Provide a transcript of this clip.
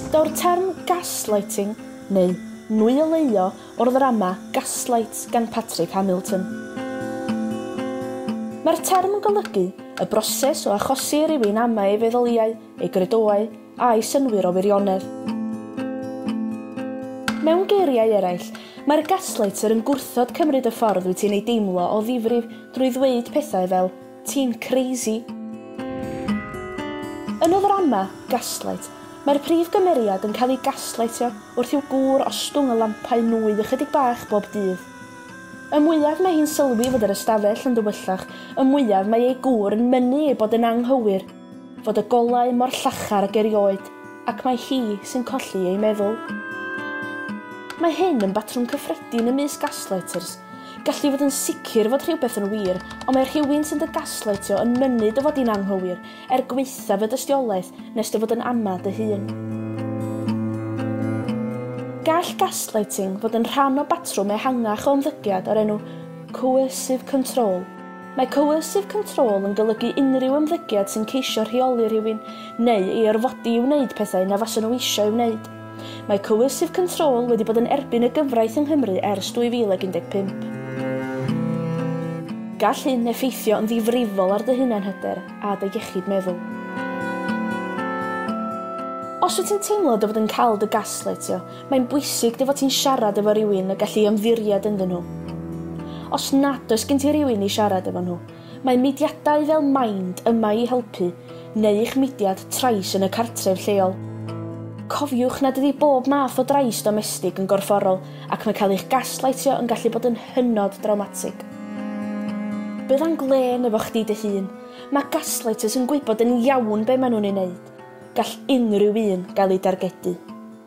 Daw'r term gaslighting, neu nwyleio, o'r ddrama Gaslight gan Patrick Hamilton. Mae'r term yn golygu y broses o achosi i rywun amau ei feddyliau, ei gredoau a'i synnwyr o wirionedd. Mewn geiriau eraill, mae'r gaslighter yn gwrthod cymryd y ffordd wyt ti'n ei deimlo o ddifrif drwy ddweud pethau fel 'ti'n crazy'. Yn y ddrama, Gaslight, mae'r prif gymeriad yn cael ei gaslightio wrth i'w gŵr ostwng y lampau nwy ychydig bach bob dydd. Y mwyaf mae hi'n sylwi fod yr ystafell yn ddywyllach, y mwyaf mae ei gŵr yn mynnu ei bod yn anghywir. Fod y golau mor llachar ag erioed ac mae hi sy'n colli ei meddwl. Mae hyn yn batrwm cyffredin ymysg gaslighters. Gall di fod yn sicr fod rhywbeth yn wir, ond mae rhywun sy'n dy gaslightio yn mynnu dy fod di'n anghywir, er gwaethaf y dystiolaeth, nes dy fod yn ama dy hun. Gall gaslighting fod yn rhan o batrwm ehangach o ymddygiad o'r enw coercive control. Mae coercive control yn golygu unrhyw ymddygiad sy'n ceisio rheoli rhywun neu ei orfodi i wneud pethau na fasen nhw eisiau ei wneud. Mae coercive control wedi bod yn erbyn y gyfraith yng Nghymru ers 2015. Gall hyn effeithio yn ddifrifol ar dy hunanhyder a dy iechyd meddwl. Os wyt ti'n teimlo dy fod yn cael dy gasleitio, Mae'n bwysig dy fod ti'n siarad efo rywun y gall ei ymddiried ynddyn nhw. Os nad oes gen ti rywun i siarad efo nhw, mae mudiadau fel Mind yma i helpu, neu eich mudiad trais yn y cartref lleol. Cofiwch nad ydi bob math o drais domestig yn gorfforol ac mae cael eich gaslaitio yn gallu bod yn hynod drawmatig. Bydda'n glên efo chdi dy hun, mae gaslighters yn gwybod yn iawn be maen nhw'n ei wneud. Gall unrhyw un gael ei dargedu.